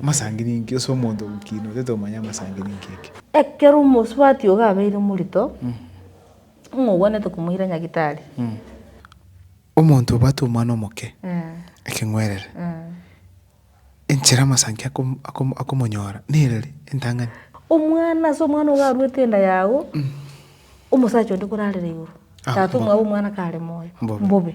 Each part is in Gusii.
Amasangini inki? Ase omonto ogokiina otete omanye amasangini inki eke. Ekero omosubati ogo abeire morito, ng'a ogwanete komoira nyagitari. Omonto obwate omwana omoke, ekeng'werere, enchera amasanki akomonyora nere eri, entang'ani. Omwana ase omwana ogo aruete enda yago, omosacha onde korarera igoro, tata omwabo omwana kare moyo, mbobe.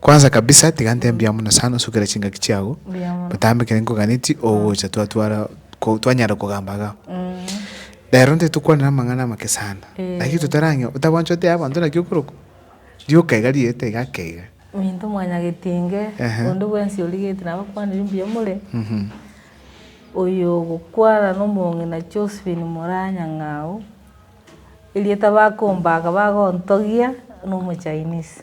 Kwansa kabisa, tiga ntebie amo na sana, sukera chingaki chiago, botambe kere nkoganeti ogocha twatwara ko twanyare kogamba iga. Rero nte tokwanera amang'ana amake sana, lakini totarang'e otabwanchwa otea abanto naki okorokwa, rioka iga riete iga ake iga. Minto mwanyagetie inge, Ehe. onde bwensi origetie nabo akwanire mbuya more, Mhm. oyo ogokwana na omong'ina Josephine Moranyang'au, erieta bakombaga bagontogia na omo Chinese.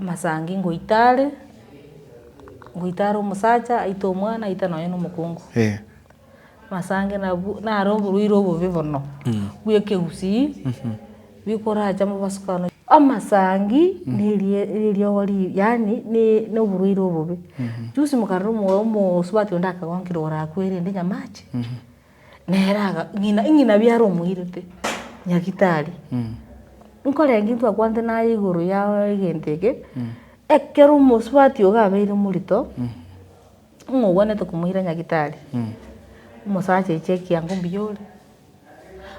Amasangi ngoita are, ngoita are omosacha aite omwana aite nonye na omokungu. Amasangi nabwo naro oborwaire obobe bono, bwa ekegusii, bikorache amo basukano. Amasangi na erie na eriogo ri yaani ne na oborwaire obobe. Juzi mokarora omo omosubati onde akagonkire igoro akwe erende nyamache. Nere aga, ng'ina, ng'ina biare omoirete, nyagitari, nkorenge intwe akwanete naye igoro ya egento eke, ekero omosubati oga abeire morito, ng'a ogwanete komoira nyagitari, omosacha aiche ekiango mbuya ore,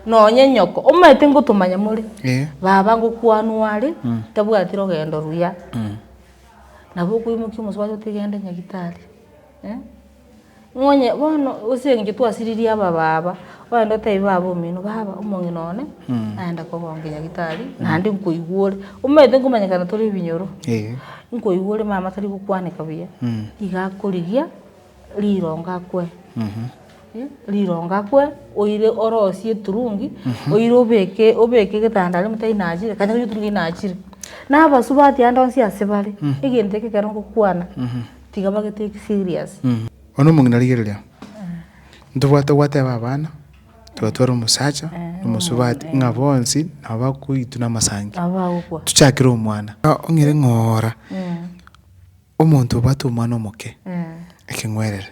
nonye nyoko, omanyete ngotomanya more, baba ngokwanwa are, tabwati rogendo ruya, nabo okoimokia omosubati otigende nyagitari. Nonye bono ase eng'encho twasiririe aba baba, ogende otebi baba omino, baba omong'ina one naenda kogonkia nyagitari naende nkoigwore, omanyete nkomanyekana tore ebinyoro, nkoigwore mama tari gokwaneka buya, iga akorigia rirongo akwe, rirongo akwe oire orosie eturungi, oire obeke obeke egetanda aria omotari nachire, kare oturungi nachire, na abasubati ande onsi ase bare, egento eke ekero ngokwana. Tiga bagetake serious. Bono omong'ina rigereria, ntobwate gwateba abana, twatware omosacha na omosubati ng'a bonsi nabo bakoitwa namasangi. Nabo bagokwa. Tuchakire omwana. Ong'ire ng'ora omonto obwate omwana omoke ekeng'werere,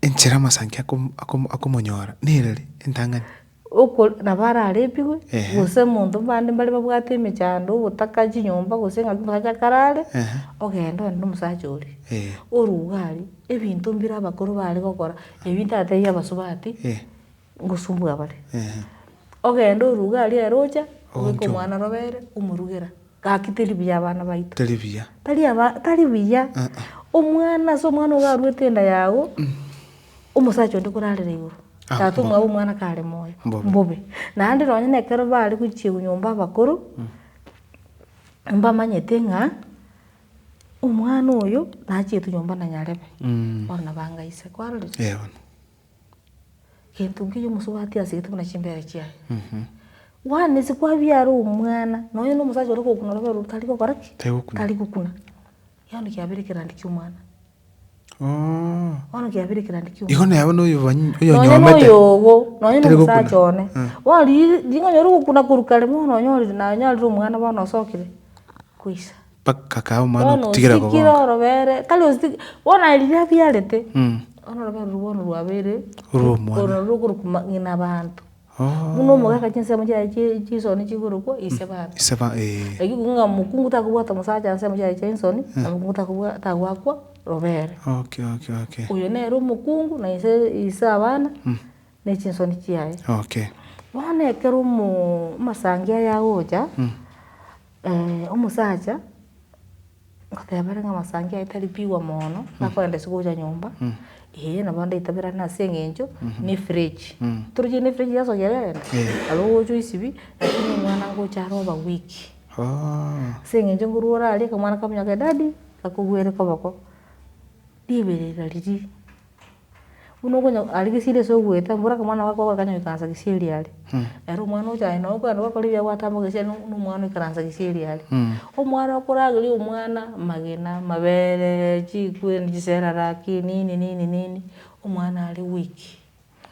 enchera amasangi akomonyora nereri entang'ani. Oko nabo ararepigwe, gose monto mbande mbare babwate emechando, ogotaka chinyomba gose ng'aki omosacha karare, ogende one nomosacha oria, orwe iga aria, ebinto mbire abakoro bare gokora, ebi ntatebia abasubati, ngosumbua bare. Ogende orwe iga aria ere ocha, obeke omwana robere, omorugera. Gaki teri buya abana baito. Tari buya. Tari aba, tari buya. Omwana ase omwana ogo aruete enda yago, omosacha onde korarera igoro. Ah, Tata mbo. omwabo omwana kare moyo. Mbobe. Mbobe. Naende nonye na ekero bare gochiegwa nyomba abakoro, mbamanyete ng'a omwana oyo nachiete nyomba na nyarebe. Bono nabo anga inse. Kwarorire? Eeh bono. Gento nkiya omosubati asegete buna chimbere chiaye. One is kwabiara omwana, nonya na omosacha ore gokuna orobere oru tari gokora ki? Tari gokuna. Tari gokuna. Yano kiabera ekerandi kia omwana. Oh. Bono kiabera ekerandi kia Igo omwana. nabo noyo banyi- Nonya na oyonyomete. oyogo, nonya na Tari gokuna. omosacha one. Mm. Bono ri- ring'ana ore gokuna korwa kare bono onyore naye onyarire omwana bono osokire, kwaisa. Bakakaa omwana Bono ogotigera osikire kogonka. orobere, tari osiki, bono aye riria abiarete, Mm. bono orobere orwo bono rwabeire, Orwa omwana. orwo narwo okorokwa ma- ng'ina abanto. Oh. Buna omogaka chinsemo chiaye chie chinsoni chikorokwa ise bana. Ise ba- eh. Lakini kobua ng'a mokungu takobwata omosacha ase ensemo chiaye chia ensoni, na mokungu takobwa- tagoakwa robere. Okay, okay, okay. Oyo nere omokungu na ise ise abana, na echinsoni chiaye. Okay. Bono ekero omo- omosangi aya agocha. Omosacha ngoteba are ng'amasangi aye tari pigwa mono, nakorenda ase gocha nyomba, eh, nabo ndaitaberane ase eng'encho na efridge. Toroche buna efridge yase ogererete, nabo ogocha oisibie, lakini omwana ngocha are over week. Ase eng'encho ngorwa orare, akamwana kakonye kakamonya daddy, gakogwere koboko, riberera riria. buna okonya aria gesieri ase ogoeta mbora aka omwana gakogwa akanya goikaransa gesieri are, ere omwana ocha aye nabo okogenda gwakora ebiago gwatama gesieri na omwana oikaransa gesieri are. Omwana okorageria omwana magena, mabereee, chikweeni, chiseraraki, nini nini nini, omwana are weak,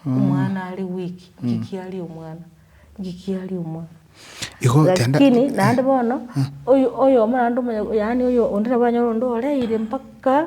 omwana are weak, ng'aki aria omwana, ng'aki aria omwana. Igo genda. Lakini naende bono, oyo- oyomo naende omonye yaani oyo onde nabo oranyore onde oreire mpaka.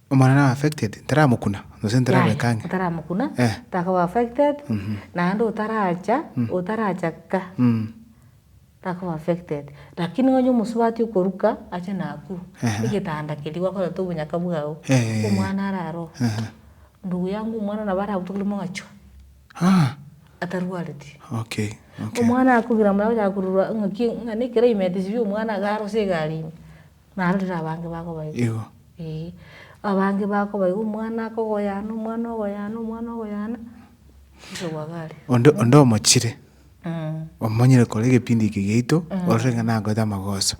Omwana na affected taramokuna gose tarabeka ang'e. Taramokuna takoba affected naende otaracha otaracha ka takoba affected lakini onye omosubati okoruka ache nakuru egetanda keria gwakorete obonyaka bwao omwana arare oo ndugu yangu omwana nabo aragutokire mogachwa atarwareti omwana akogira mbuya akonya kororwa ng'aki ng'a ne climate chiri omwana iga arose egari ime. Narorire abange bakobaigwa. Igo. Ee. Abange bakobaigwa omwana akogoyana, omwana ogoyana, omwana ogoyana, inche gwagaria. Onde, onde omochire, omonyire kore egepindi eke giaito, orore ng'a nagoete amagoso.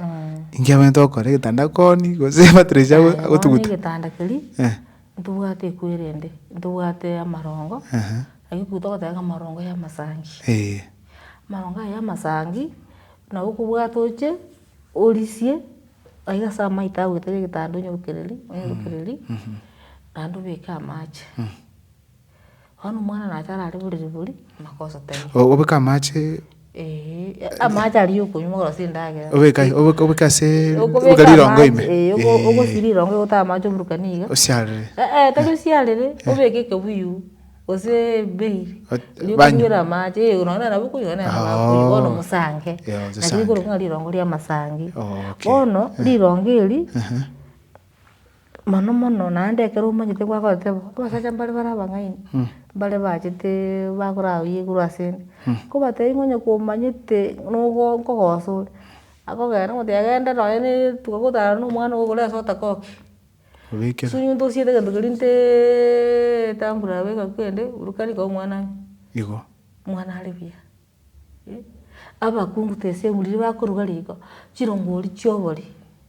Inki abang'aete gokora egetanda koni, gose emattress ago- Bono agotuguta? egetanda keria, Eh. ntobwate ekwe erende, ntobwate amarongo, Ehe. ayio ekwe togotebeka amarongo ya amasangi. Eeh. Amarongo aya ya amasangi, nabo okobwata oche. Orisie aiga ase amaito agoeta ase egetanda onyerokereri, onyerokereri, naende obeke amache. Bono omwana nacha arare borere boria, amaka osoteme. Obeke amache? Ee, amache aria ya okonywa okorasa endagera. Obeke aye, obeke- obeke asee, Okobeka obeke rirongo ime? amache, ee, ogo- ogosiria rirongo ogote amache oborokani iga. Osiarere. Tari osiarere, obeke ekebuyu. Gose ebei, riria okonywire amache, ee nonya nabo okonywa nonya nabo akoyia, bono omosange, naki nikorokwa ng'a rirongo ri'amasangi. Bono, rirongo eria, mono mono naende ekero omanyete gwagoteeba ng'a abasacha mbare bare abang'aini, mbare bachete bakoraba buya igoro asende, kobatebi ng'a onye komanyete nogo nkogosoria, akogenda omotebi agende nonya na etuko gotara na omwana ogo igoro ase otakoki. obekera. Ase omonto osiete egento keria nteeeee etamburu yabo egakwa ende, buruka riko omwana ang'e. Igo. Omwana are buya, eh, abakungu tesegwe riria bakoruga riko, chirongori chia obori,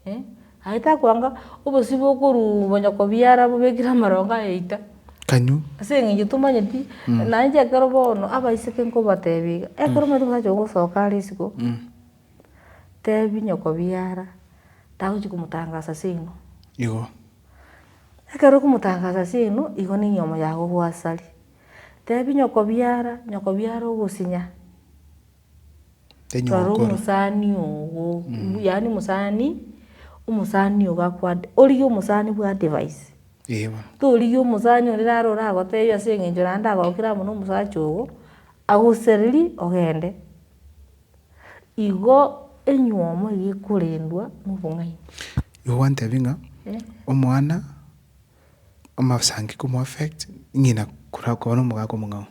eh, aye takoanga obosibwa okoruuga onya kobiara bobekire amarongo aye eita. Kanyoo. Ase eng'encho tomanyeti, naende ekero bono abaiseke nkobatebie iga, ekero omanyete okosacha ogosoka are isiko. Tebi nyoko biara, tagochi komotangasa ase inwe. Igo. Ekero okomotangasa ase inwe, igo ninywe omoyago bw'asari. Tebi nyoko biara, nyoko biara ogosinya. Tenywe ogokora. Rora omosani ogo, yaani omosani, omosani ogo akwa, origie omosani bwa advice. Eeh bono. Torigie omosani onde naro oragotebie ase eng'encho naende agokire amo na omosacha ogo, agosererie ogende. Igo enywomo eye ekorendwa nobong'aini. Igo gwantebia ng'a omwana amasangi komu affect ng'ina kora koba nomogaka omong'ao.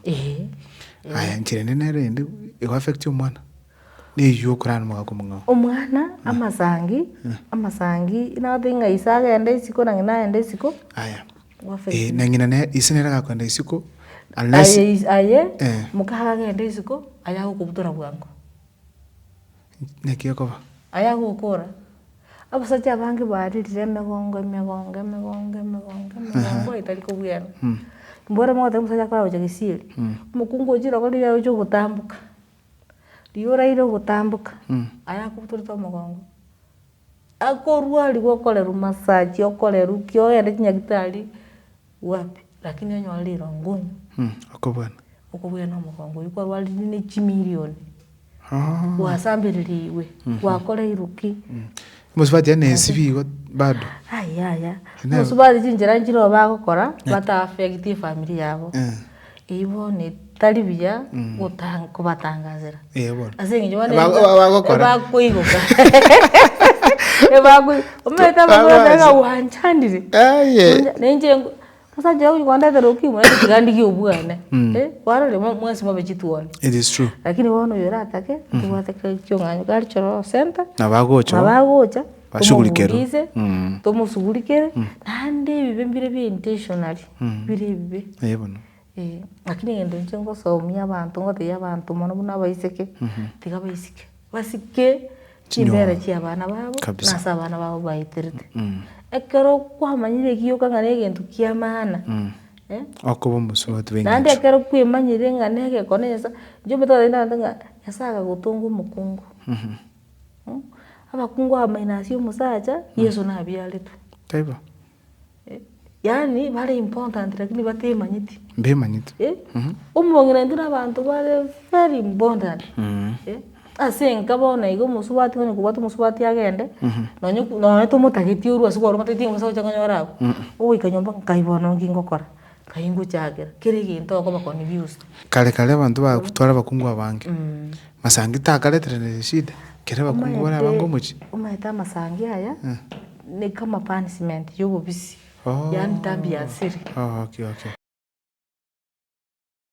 Aya nchera ende nero eyende ego affecti omwana neywo okorara nomogaka omong'ao. Omwana amasangi amasangi nababeke ng'a ise agende isiko na ng'ina agende isiko. Aya. Eh, na ng'ina ne ise nere agakwenda isiko, unless Aye is- aye Eh. mokaha agende isiko aye agokobutora bwango naki ekoba. aye agokora abasacha abange baririre emegongo emegongo emegongo emegongo emegongo etari kobwera mbwera mogotebi omosacha akora gocha gesieri omokungu ochire igo riria ocha ogotamboka riria oraire ogotamboka aye akobutorete omogongo. Akorua arigwe okorerwa massage okorerwa ki ogende chinyagitari wapi lakini onyore rirongo onywe. Okobwana. Okobwana omogongo oywo kwarwarire ne chimilioni gwasambereria igwe gwakoreirwe ki. Mosubati yaani esibi igo bado. Yaya mosubati chinchera nchire igo bagokora bata affect efamiri yabo. Eyio bono etari buya gotanga kobatangazera. Eeh bono. Ase eng'encho bono Eba- eba- bagokora. ebakoigoka ebakoi omanyete Ba- abamura babaza. naga gwanchandire. Aye. Onde- nainche nko- osacha oyo kwandetera okimo nainche tiga ndigie obwane. Eh, kwarorire mwa- mwase mwabe chituoni. It is true. Lakini bono oyo oratake, ntobwate kare ki'ong'anyo, gari choroo center, Nabagochoo. nabagocha, Bashugurikero. Tomomuulize, Mm. tomosugurikere, naende ebibe mbire bire intentionally, bire ebibe. Eh, bono. Eh, lakini egento inche ngosomia abanto ngotebia abanto mono buna abaiseke, tiga baisike, basike chimbera chia abana babo, Kabisa. na ase abana babo baeterete. Ekero kwamanyire egiyoka ng'a na egento kia maana, eh, Okoba omosubati bw'engencho. naende ekero kwemanyire ng'a na egekone Nyasaye, inche omanyete gose naende ng'a Nyasaye akagotonga omokungu. Abakungu abamaina ase omosacha, Yeso nabiaretwe. Taibo. Yaani bare important lakini batemanyeti. Mbemanyeti. Eh? Mhm. Omong'ina intwe na abanto bare very important. Mm. Eh? Ase enka bono iga omosubati onye kobwate omosubati agende, Mhm. nonye nonye tomotageti orwa ase kwarwa omotebitie ng'a osagocha konyora abwo. Mm. Ogoika nyomba nkai bono nki ngokora? Aye ngochakera, kera egento okobakoni bionsi. Kare kare abanto baaku tware abakungu abange. Masangi takareterane eshida, kera abakungu bare abange omochie. Omanyete amasangi aya ne kama punishment ya obobisi, yaani dhambi ya siri. Ooh, okay, okay.